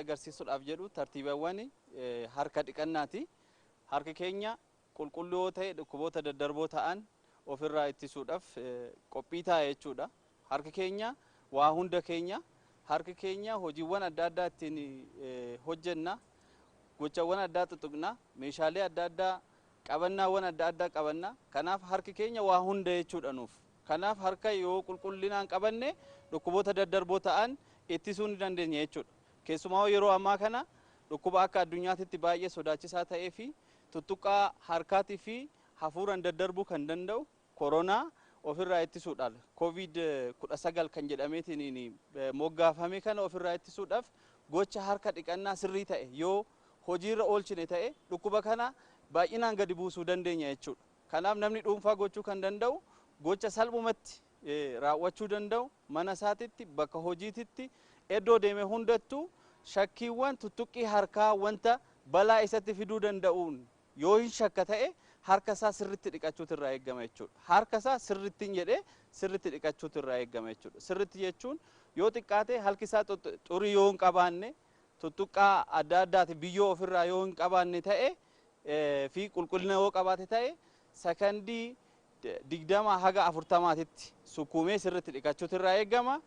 agarsiisuudhaaf jedhu tartiibawwan harka dhiqannaati. Harki keenya qulqulluu yoo ta'e dhukkuboota daddarboo ta'an ofirraa ittisuudhaaf qophii ta'a jechuudha. Harki keenya waa hunda keenya. Harki keenya hojiiwwan adda addaa ittiin hojjenna. Gochawwan addaa xuxuqna. Meeshaalee adda addaa, qabannaawwan adda addaa qabanna. Kanaaf harki keenya waa hunda jechuudha nuuf. Kanaaf harka yoo qulqullinaan qabanne dhukkuboota daddarboo ta'an ittisuu ni dandeenya jechuudha. Keessumaa'uu yeroo ammaa kana dhukkuba akka addunyaatitti baay'ee sodaachisaa ta'eefi tuttuqqaa harkaatii fi hafuuraan daddarbuu kan danda'u Koronaa ofirraa ittisuudhaal, Covid 19 kan jedhameetiniin moggaafame kana ofirraa ittisuudhaaf gocha harka dhiqannaa sirrii ta'e yoo hojiirra oolchine ta'e dhukkuba kana baay'inaan gadi buusuu dandeenya jechuudha. Kanaaf namni dhuunfaa gochuu kan danda'u gocha salphumatti raawwachuu danda'u mana isaatitti, bakka hojiititti, eddoo deeme hundattuu shakkiiwwan tuttuqqii harkaa wanta balaa isatti fiduu danda'uun Yoo hin shakka ta'e harka isaa sirritti dhiqachuutu irraa eeggama jechuudha. Harka isaa sirrittin jedhee sirritti dhiqachuutu irraa eeggama jechuudha. Sirritti jechuun yoo xiqqaate halki isaa xurii yoo hin qabaanne, tuttuqqaa adda addaati biyyoo ofirraa yoo hin qabaanne ta'e fi qulqullina yoo qabaate ta'e sakandii digdama haga afurtamaatitti sukkuumee sirritti dhiqachuutu irraa eeggama.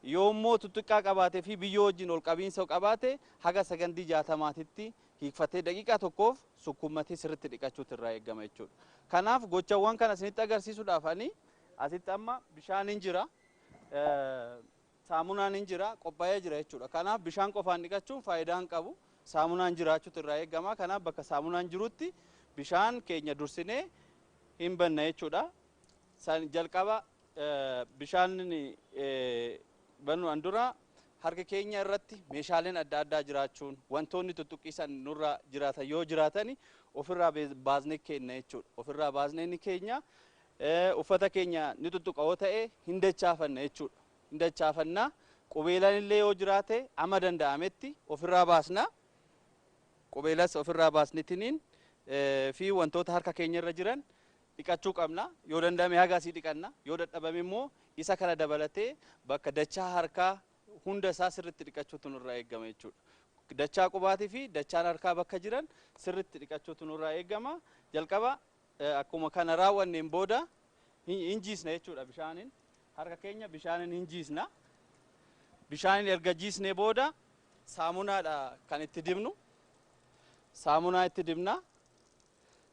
Yoo immoo tuttuqqaa qabaate fi biyyoo wajjin ol qabiinsa qabaate haga sakandii jaatamaatitti hiikfattee daqiiqaa tokkoof sukkuummatee sirriitti dhiqachuutu irraa eegama jechuudha. Kanaaf gochawwan kana isinitti agarsiisuudhaaf ani asitti amma bishaaniin jira, saamunaan hin jira, qophaa'ee jira jechuudha. Kanaaf bishaan qofaan dhiqachuun faayidaa hin qabu. Saamunaan jiraachuutu irraa eegama. Kanaaf bakka saamunaan jirutti bishaan keenya dursinee hin banna jechuudha. San jalqaba bishaan banuan dura harka keenya irratti meeshaaleen adda addaa jiraachuun wantoonni tuttuqqii san nurra jiraatan yoo jiraatani ofirraa baasnee keenna jechuudha. Ofirraa baasnee ni keenya. Uffata keenya ni tuttuqa yoo ta'e hin dachaafanna jechuudha. Hin dachaafanna. Qubeelan illee yoo jiraate amma danda'ametti ofirraa baasna. Qubeelas ofirraa baasnitiniin fi wantoota harka keenya irra jiran dhiqachuu qabna. Yoo danda'ame haga asii dhiqanna. Yoo dadhabame immoo isa kana dabalatee bakka dachaa harkaa hunda isaa sirriitti dhiqachuutu nurraa eegama jechuudha. Dachaa qubaatii fi dachaan harkaa bakka jiran sirriitti dhiqachuutu nurraa eegama. Jalqaba akkuma kana raawwanneen booda hin jiisna jechuudha bishaaniin. Harka keenya bishaaniin hin jiisna. Bishaaniin erga jiisnee booda saamunaadha kan itti dibnu. Saamunaa itti dibna.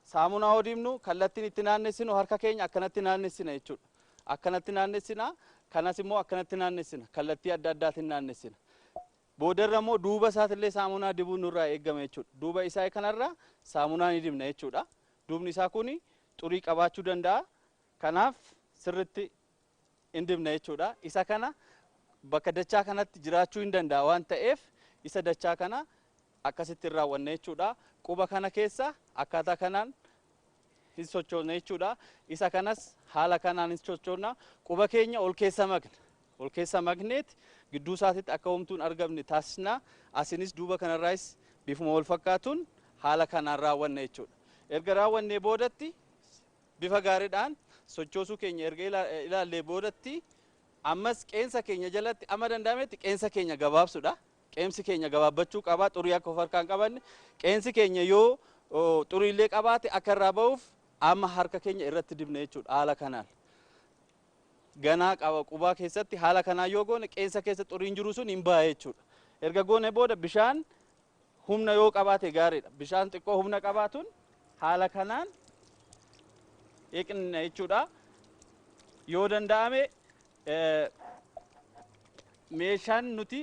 Saamunaa yoo dibnu kallattiin itti naannessinu harka keenya akkanatti naannessina jechuudha. Akkanatti naannessina, kanas immoo akkanatti naannessina. Kallattii adda addaatiin naannessina. Boodarra immoo duuba isaatillee saamunaa dibuun nurraa eegama jechuudha. Duuba isaa kanarra saamunaa ni dibna jechuudha. Duubni isaa kun xurii qabaachuu danda'a. Kanaaf sirritti in dibna jechuudha. Isa kana bakka dachaa kanatti jiraachuu in danda'a waan ta'eef isa dachaa kana akkasitti in raawwanna jechuudha. Quba kana keessa akkaataa kanaan in sochoona jechuudha. Isa kanas haala kanaan in sochoona. Quba keenya ol keessa makna. Ol keessa makneet gidduu isaatitti akka homtuu hin argamne taasisna. Asinis duuba kanarraayis bifuma wal fakkaatuun haala kanaan raawwanna jechuudha. Erga raawwannee boodatti Bifa gaaridhaan sochoosuu keenya erga ilaallee boodatti ammas qeensa keenya jalatti amma danda'ametti qeensa keenya gabaabsudha. Qeemsi keenya gabaabbachuu qaba. Xurii akka of harkaa hin qabanne. Qeensi keenya yoo xuriillee qabaate akka irraa ba'uuf amma harka keenya irratti dibna jechuudha haala kanaan. Ganaa qaba qubaa keessatti haala kanaan yoo goone qeensa keessa xuriin jiru sun hin ba'a jechuudha. Erga goone booda bishaan Humna yoo qabaate gaariidha. Bishaan xiqqoo humna qabaatuun haala kanaan dhiqna jechuudha. Yoo danda'ame meeshaan nuti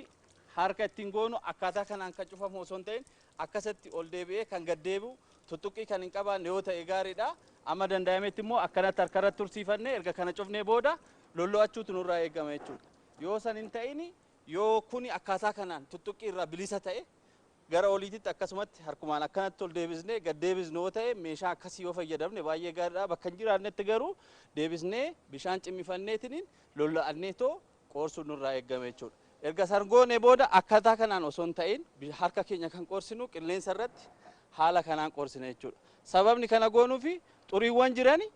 harka ittiin goonu akkaataa kanaan kan cufamu osoo hin ta'in akkasatti ol deebi'ee kan gad deebi'u tuttuqqii kan hin qabaanne yoo ta'e gaariidha. Amma danda'ametti immoo akkanatti harkarratti tursiifannee erga kana cufnee booda lollo'achuutu nurraa eegama jechuudha. Yoo san hin ta'in Yoo kuni akkaataa kanaan tuttuqqii irraa bilisa ta'e, gara oliititti akkasumatti harkumaan akkanatti ol deebisnee gad deebisnu yoo ta'e, meeshaa akkasii yoo fayyadamne baay'ee gaariidha. Bakka hin jiraannetti garuu deebisnee bishaan cimmifanneetiniin lolla'anneetoo qoorsuun nurraa eeggama jechuudha. Erga san goonee booda akkaataa kanaan osoo hin ta'in harka keenya kan qoorsinu qilleensa irratti haala kanaan qoorsina jechuudha. Sababni kana goonuufi xuriiwwan jirani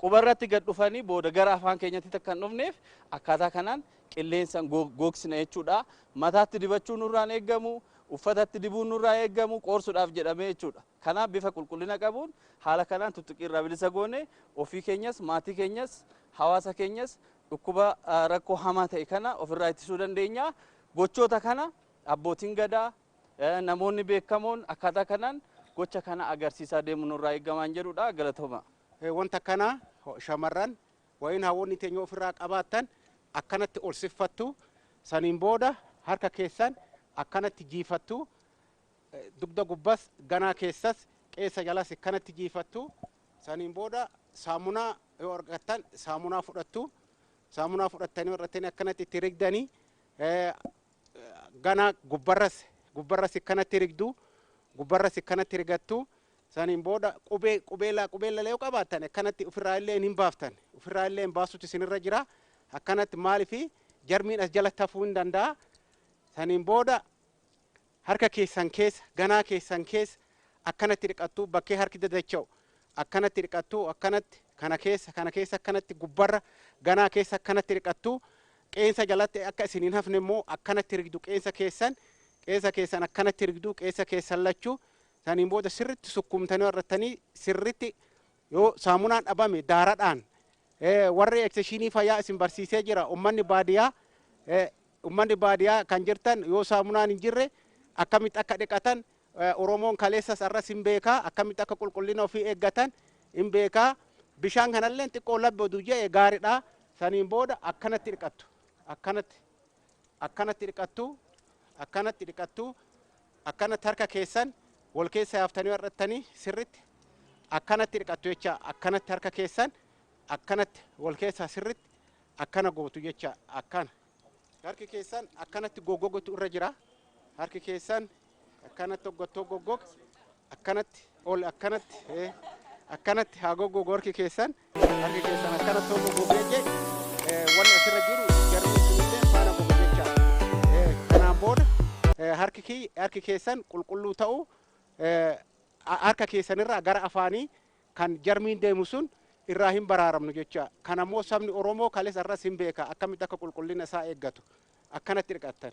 Quba irratti gad dhufanii booda gara afaan keenyattit akka hin dhufneef akkaataa kanaan qilleensan gogsina jechuudha. Mataatti dibachuu nurraa hin eeggamu, uffatatti dibuun nurraa hin eeggamu qoorsudhaaf jedhamee jechuudha. Kanaaf bifa qulqullina qabuun haala kanaan tuttuqqii irraa bilisa goone ofii keenyas, maatii keenyas, hawaasa keenyas dhukkuba rakkoo hamaa ta'e kana of irraa ittisuu dandeenya. Gochoota kana abbootiin gadaa, namoonni beekamoon akkaataa kanaan gocha kana agarsiisaa deemuun nurraa eeggamaan jedhudha. Galatoomaa! Wanta akkanaa shamarran wayin hawwoonni teenya ofirraa qabaattan akkanatti ol siffattu, saniin booda harka keessan akkanatti jiifattu, dugda gubbas, ganaa keessas, qeensa jalas akkanatti jiifattu, saniin booda saamunaa yoo argattan saamunaa fudhattu, saamunaa fudhattanii warrattanii akkanatti itti rigdanii ganaa gubbarras gubbarras akkanatti rigdu, gubbarras akkanatti rigattu, Saniin booda qubee qubeelaa qubeellala yoo qabaattan akkanatti ofirraa illee hin baaftan. Ofirraa illee baasuutti isinirra jira. Akkanatti maaliif jarmiin as jalatti hafuu hin danda'a. Saniin booda harka keessan keessa ganaa keessan keessa akkanatti dhiqattuu bakkee harki dadacha'u akkanatti dhiqattuu akkanatti kana keessa kana keessa akkanatti gubbarra ganaa keessa akkanatti dhiqattuu qeensa jalatti akka isin hin hafne immoo akkanatti rigdu qeensa keessan qeensa keessan akkanatti rigdu qeensa keessan lachuu Saniin booda sirritti sukkuumtanii warrattanii sirritti yoo saamunaan dhabame daaradhaan warri ekseshiinii fayyaa isin barsiisee jira ummanni baadiyaa ummanni baadiyaa kan jirtan yoo saamunaan hin jirre akkamitti akka dhiqatan Oromoon kaleessas arras hin beekaa akkamitti akka qulqullina ofii eeggatan hin beekaa bishaan kanallee xiqqoo labbadu je'e gaaridha saniin booda akkanatti dhiqattu akkanatti Akkanatti dhiqattuu, akkanatti dhiqattuu, akkanatti harka keessan wal keessa yaaftanii har'attanii sirritti akkanatti dhiqattu jecha akkanatti harka keessan akkanatti wal keessaa sirritti akkana gootu jecha akkana. Harki keessan akkanatti goggogotu irra jira. Harki keessan akkanatti hoggottoo goggog akkanatti ol akkanatti eh, akkanatti haa goggogu harki keessan harki keessan akkanatti hoo goggogu jechee eh, wanni asirra jiru jarri sunillee faana gogu jecha Eh, kanaan booda eh, harki kiyy- harki keessan qulqulluu ta'uu eh, a- harka keessanirraa gara afaanii kan jarmiin deemu sun irraa hin baraaramnu jecha kan ammoo sabni oromoo kalees arras hin beeka akkamitti akka qulqullina isaa eeggatu akkanatti dhiqattan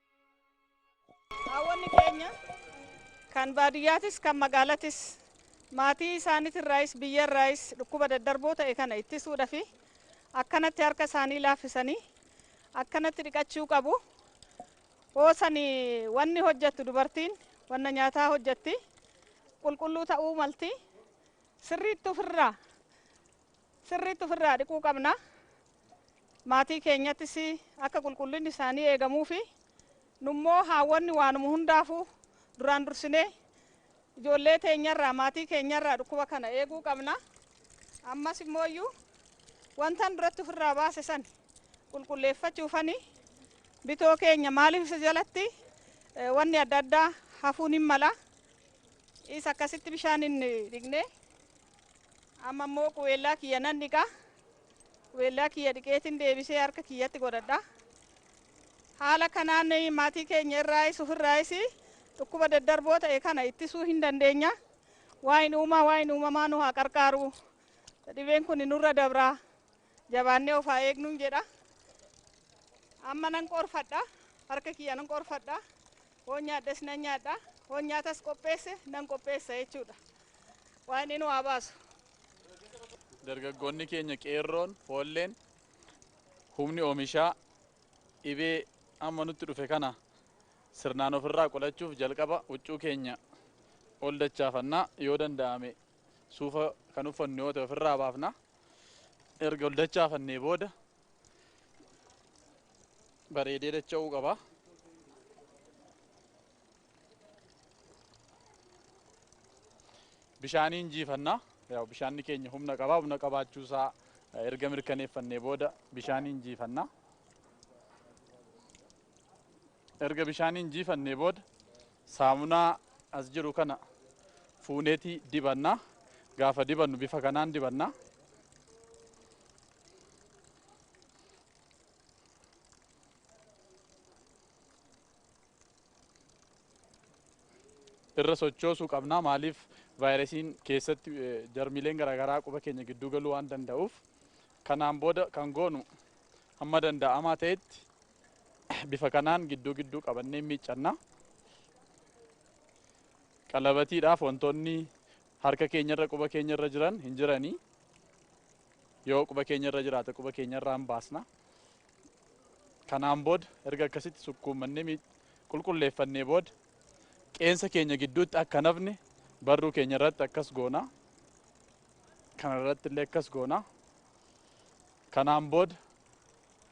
Haawwanni keenya kan baadiyyaatis kan magaalatis maatii isaaniitirraayis biyyarraayis dhukkuba daddarboo ta'e kana ittisuudhafi akkanatti harka isaanii laaffisanii akkanatti dhiqachuu qabu. Hoosani wanni hojjettu dubartiin wanna nyaataa hojjetti qulqulluu ta'uu malti sirriitti ofirraa Sirriitti ofirraa dhiquu qabna. Maatii keenyattis akka qulqullinni isaanii eegamuufi nummoo haawwonni waanuma hundaafuu duraan dursinee ijoollee teenyarraa maatii keenyarraa dhukkuba kana eeguu qabna. Ammas immooyyuu wantan duratti ofirraa baase san qulqulleeffachuufani bitoo keenya maaliif isa jalatti eh, wanni adda addaa hafuun hin mala. Isa akkasitti bishaaniin dhiqnee Amma immoo qubeellaa kiyya nan dhiqa. Qubeellaa kiyya dhiqeetiin deebisee harka kiyyatti godhadha. Haala kanaan maatii keenya irraayis ofirraayis dhukkuba daddarboo ta'e kana ittisuu hin dandeenya. Waa'in uumaa waa'in uumamaa nu haa qarqaaru. Dhibeen kun nurra dabra. Jabaannee of haa eegnuun jedha. Amma nan qorfadha, harka kiyya nan qorfadha, hoon nyaadhes nan nyaadha, hoon nyaatas qopheesse nan qopheessa jechuudha. Waaqni nu haa baasu. Dargaggoonni keenya qeerroon, foolleen, humni oomishaa dhibee amma nutti dhufe kana sirnaan ofirraa qolachuuf jalqaba huccuu keenya ol dachaafanna. Yoo danda'ame Suufa kan uffannu yoo ta'e ofirraa baafna. Erga ol dachaafannee booda bareedee dacha'uu qaba. Bishaaniin jiifanna. Yaa bishaanni keenya humna qaba. Humna qabaachuu isaa erga mirkaneeffannee booda bishaaniin jiifanna. Erga bishaaniin jiifannee booda saamunaa as jiru kana fuuneeti dibanna. Gaafa dibannu bifa kanaan dibanna. Irra sochoosuu qabna maaliif vaayirasiin keessatti jarmiileen garaagaraa quba keenya gidduu galuu waan danda'uuf kanaan booda kan goonu hamma danda'amaa ta'etti Bifa kanaan gidduu gidduu qabannee miiccanna. Qalabatiidhaaf wantoonni harka keenyarra quba keenyarra jiran hin jiranii. Yoo quba keenyarra jiraate quba keenyarraa hin baasna. Kanaan booda erga akkasitti sukkuummannee qulqulleeffannee booda qeensa keenya gidduutti akka nafne barruu keenya irratti akkas goona. Kana irratti illee akkas goona. Kanaan booda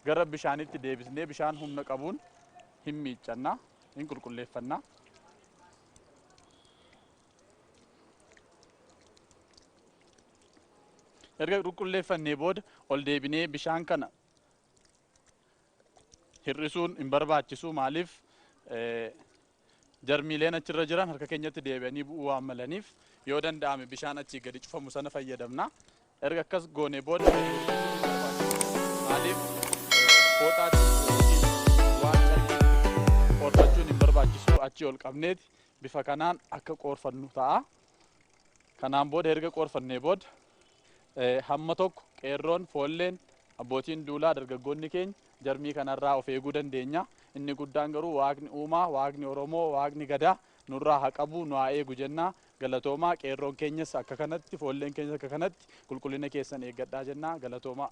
Gara bishaanitti deebisnee bishaan humna qabuun hin miiccanna, hin qulqulleeffanna. Erga qulqulleeffannee booda ol deebinee bishaan kana hir'isuun hin barbaachisu maaliif Jarmiileen achirra jiran harka keenyatti deebi'anii bu'uu waan malaniif yoo danda'ame bishaan achii gadi cufamu sana fayyadamna. Erga akkas goonee booda maaliif fooxaatti waan calliitti qoorfachuun hin barbaachisu achii ol qabneeti bifa kanaan akka qoorfannu ta'a. Kanaan booda erga qoorfannee booda hamma tokko qeerroon foolleen abbootiin duulaa dargaggoonni keenya Jarmii kanarraa of eeguu dandeenya. Inni guddaan garuu Waaqni uumaa, Waaqni Oromoo, Waaqni Gadaa nurraa ha qabu, nu haa eegu jenna. Galatoomaa. Qeerroon keenyas akka kanatti, foolleen keenyas akka kanatti qulqullina keessan eeggadhaa jenna. Galatoomaa.